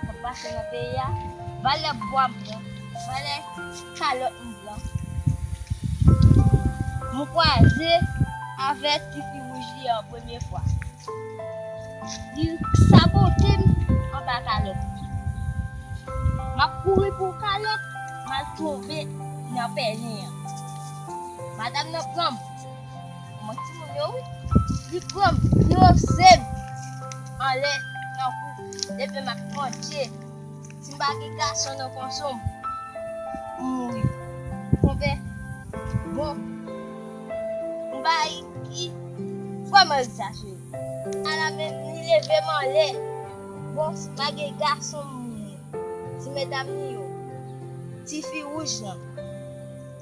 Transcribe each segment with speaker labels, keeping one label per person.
Speaker 1: k ap pase nan peyi a, valè bwa m pran, valè kalòt m pran, m kwaze avèk tifi wouj li an premye fwa, li sabote m anba kalòt li, m ap kouri pou kalòt, m al tonbe nan pèlen an, madam nan pran m. Manman ti moun yo wi. Li pranm li oksem anlè nan kou depi map manje sim pa gen gason nan konsom m mouri konpè bon mbay ki vrèman egzajere ala men li levem anlè bon sim pa gen gason m mouri ti medam ni yo tifi wouj lan.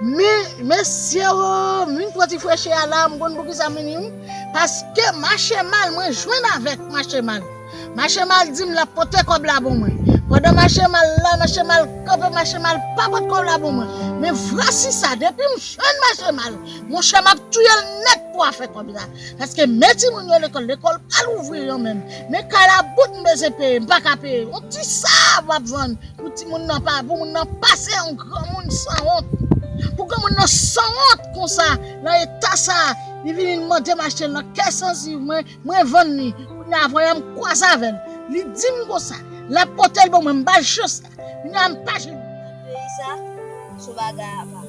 Speaker 2: Men mesye oo m vin pran ti frechè a la m konn poukisa m vini wi paske mache mal mwen jwenn avèk mache mal mache mal di m lap pote kòb la pou mwen pandan mache mal la mache mal kanpe mache mal pa pot kòb la pou mwen men vwasi sa depi m jwenn mache mal monchè map touyel nèt pou afè kòb la. Paske men timoun yo lekòl, lekòl pa louvri yo menm. Men kalabout m bezwen peye, m pa ka peye. Yon ti sab wap vann pou timoun nan pa, pou moun nan pase an granmoun sanwont. Pou granmoun nan sanwont konsa nan eta sa, li vini li mande m achte l nan kè sanziv mwen, mwen vann li. Kounye a voyam kwaze avè l. Li di m konsa, lap pote l ban mwen, m ba l chans la. Kounye a m pa janm. Peyi sa,
Speaker 1: sou bagay apa.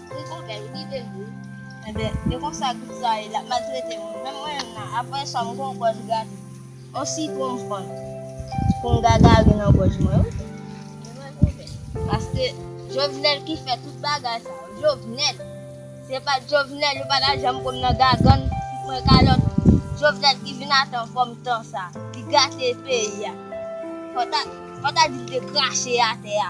Speaker 1: Li kon bel ou kite l wi. Enben e konsa tout sa ye lap maltrete moun menm mwen menm nan apre sa m gon gòj gate on sitwon m pran pou m gagari nan gòj mwen wi. Se vre gwo bèt. Paske jovenel ki fè tout bagay sa yo jovenel se pat jovenel yo pata janm konn nan gagann fout mwen kalòt jovenel ki vin ate anfòm tan sa li gate peyi a fò ta di l te krache atè a.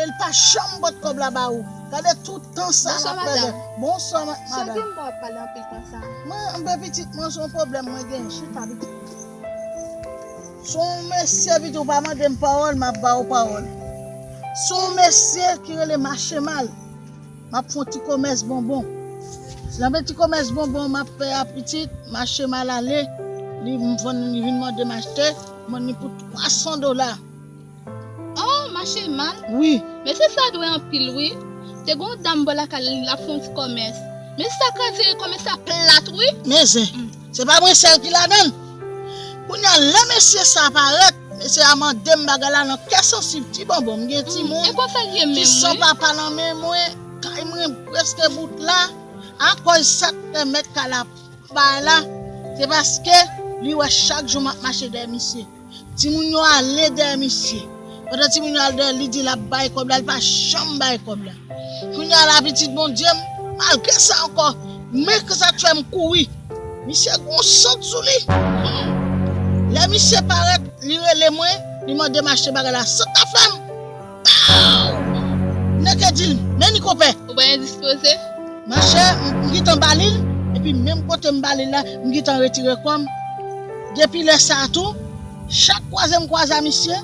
Speaker 2: El pa janm pot kob la ba ou. Gade tout tan sa Bonsoir map pèdè. madame. Bonswa ma- Sel
Speaker 3: madam. gen
Speaker 2: mwen wap
Speaker 3: pale anpil konsa. Mwen anpe pitit
Speaker 2: mwen son pwoblèm mwen gen. Chita pitit. Son mesye pitit ou pa mandem pawòl map ba ou pawòl. Son mesye ki rele machemal. Map fon ti komès bonbon. Lanbe ti komès bonbon map fè a pitit, mache mal ale, li vin mandem achte, mwen li pou 300 dola.
Speaker 3: Oh mache mal? Wi. Mesye
Speaker 2: sa dwe
Speaker 3: anpil wi. Te gon dam bò lakay li lap fon ti komès. Mesye sa kraze komès la plat wi. Men zen. Se
Speaker 2: pa mwen sèl ki ladan l. Kounye a, lè mesye sa a parèt, mesye a mande m bagay la nan kè sansib. Ti bonbon, m gen timoun ki san
Speaker 3: papa nan
Speaker 2: men mwen, kay mwen prèske bout la. Akòz sa k fè mèt kay la bay la, se paske li wè chak jou m ap mache dèyè misye. Timoun yo ale dèyè misye. Pandan timoun yo al dèyèl li di lap bay kòb la li pa janm bay kòb la kounya la pitit Bondyem malgre sa ankò men kisak fèm kouri misye gon sant sou li humm lè misye parèt li rele mwen li mandem achte bagay la sant la fèm Paww! Nèg yo di l, men li konpè! Ou bay endispoze?
Speaker 3: Machè,
Speaker 2: m gentan ba li l, epi menm kote m ba li l la, m gentan retire kò m. Depi lè sa a tou, chak kwaze m kwaze a misye,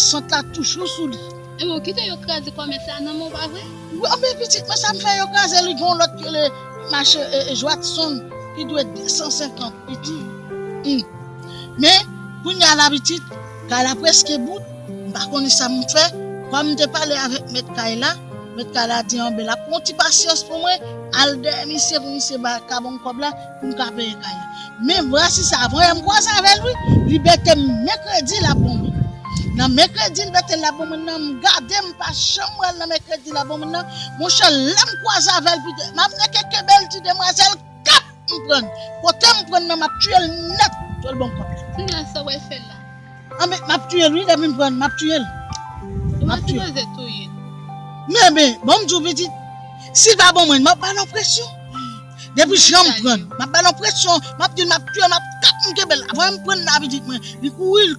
Speaker 2: sant la toujou sou li. Enben, ou kite yo kraze
Speaker 3: kòmès la nan men w, pa vre? Wi, anben pitit mwen,
Speaker 2: sa m fè yo kraze l? Gen yon lòt ki rele machè Jwadson, li dwe 250 pitit. Hum! Men, kounye a la pitit, Kay la preske bout, m pa konnen sa m fè. Kòm m te pale avèk mèt kay la, mèt kay la di anben l ap pran yon ti pasyans pou mwen al dèyè misye pou misye ka ban m kòb la pou m ka peye kay la. Men vrasi sa a voye m kwaze avè l wi, li bete m mèkredi l ap ban mwen. Nan mèkredi l bete l ap ban mwen nan, m gade m pa janm wè l nan mèkredi l ap ban mwen nan. Monchè lè m kwaze avè l pito m ap neke kenbe l ti demwazèl. Kat m prann. Kote m prann nan map tiyel nèt. Jwèl banm kòb la. Sila sa wal fè
Speaker 3: la. Anben map tiyel
Speaker 2: wi depi m prann map tiyel. Ou pa
Speaker 3: sipoze touye. Men men
Speaker 2: bon m diw pitit. Sil pa ban mwen map bal yon presyon. Depi jan m prann. Map bal yon presyon. Map dil map tiyel map kat m kenbel. Apre m prann nan pitit mwen. Li kouri.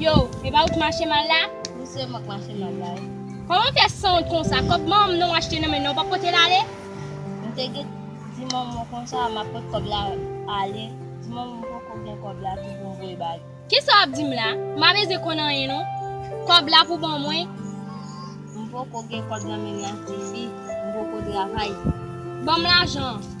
Speaker 4: Yow, e pa ou k mache mal la? Wi se mwen k mache
Speaker 1: mal la wi. Kòman w fè
Speaker 4: sanwont konsa? Kòb manman m nan w achte nan men nan w pa pote l ale? M te
Speaker 1: gen di manman w konsa m ap pot kòb la ale, di manman m poko gen kòb la tou pou m voye ba li. Kisa w ap di m la?
Speaker 4: M pa bezwen konn anyen non. Kòb la pou w ban mwen. M
Speaker 1: poko gen kòb nan men m nan Fifi, m poko travay. Ban m
Speaker 4: lajan an.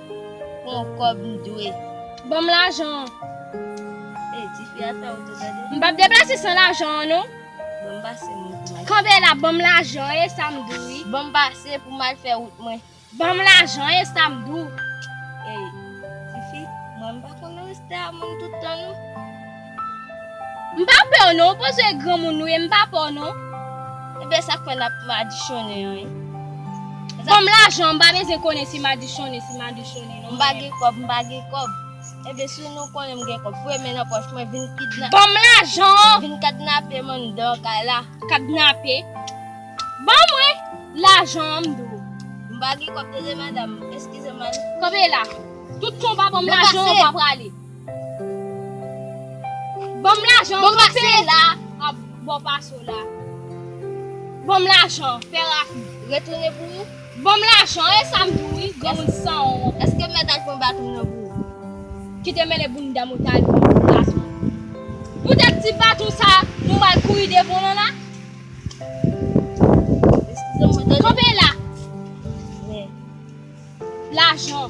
Speaker 1: Pran kòb m dwe. Ban m lajan
Speaker 4: an.
Speaker 1: Ey ti fi a fè wout ou tande. M pap deplase san lajan
Speaker 4: an non. Ban m pase
Speaker 1: m wout mwen. Kanpe la ban m
Speaker 4: lajan e sa m di w wi. Ban m pase pou m
Speaker 1: al fè wout mwen. Ban m lajan
Speaker 4: e sa m di w. Ey
Speaker 1: ti fi mwen m pa konn reste a moun tout tan non. M pa
Speaker 4: pè w non, ou pweze e granmoun ou ye, m pa pè w non. Ebyen sa
Speaker 1: k fè n ap madichonnen an ye. Ban
Speaker 4: m lajan, m pa bezwen konnen si madichonnen, si madichonnen non. M pa gen kòb, m pa
Speaker 1: gen kòb. Ebyen si w nou konnen m gen kòb, foure men nan pòch mwen, vin kidna. Ban m lajan an!
Speaker 4: Vin kadnape m
Speaker 1: anndan kay la. Kadnape?
Speaker 4: Ban mwen lajan an m di w. M pa gen kòb
Speaker 1: tande madam, eskize m an. Kanpe la!
Speaker 4: Tout konpa ban m lajan an ou pa prale. Banm lajan banm pase la
Speaker 1: a bò paso
Speaker 4: la banm lajan fè rapid retounen pou ou
Speaker 1: banm lajan e
Speaker 4: sam di w wi gen moun san wont eske mèt al pran
Speaker 1: baton nan pou ou kite
Speaker 4: mele bounda mwen ta al pran yon baton poutèt ti baton sa nou mal kouri devan lan la
Speaker 1: kanpe la lajan.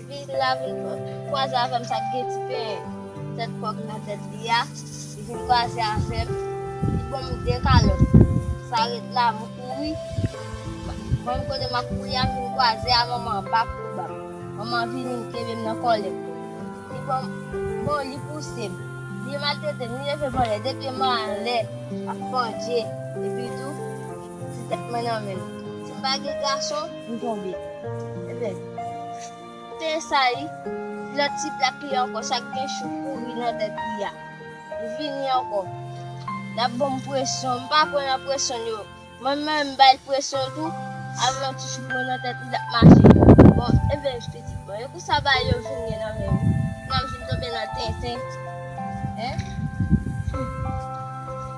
Speaker 1: Li la vin kwaze avèm sak gen ti pen tèt kòk nan tèt li ya li vin kwaze avèm li banm 2 kalòt sa ret la m kouri banm kote map kouri ya m vin kwaze a manman an pa kouri banm manman an vini li kenbem nan kòlèm li banm bon li pousem li maltretem li levem anlè 2 pyem anlè ap pandje epi tou. Ti tèt mwen nan men l. Si m pa gen gason, m tonbe. Ebyen, te esayi, lòt ti plak li ankò sa k gen chou pouri nan tèt li a. Li vini ankò. L ap ban m presyon. M pa pran nan presyon l yo. Mwen menm, m bay l presyon tou. Avèk yon ti chou pouri nan tèt li, l ap mache. Bon, ebyen, m te di, bon, e kou sa ba yo vin gen nan men m? Nan m vin tonbe nan tenten. Hein? Hum!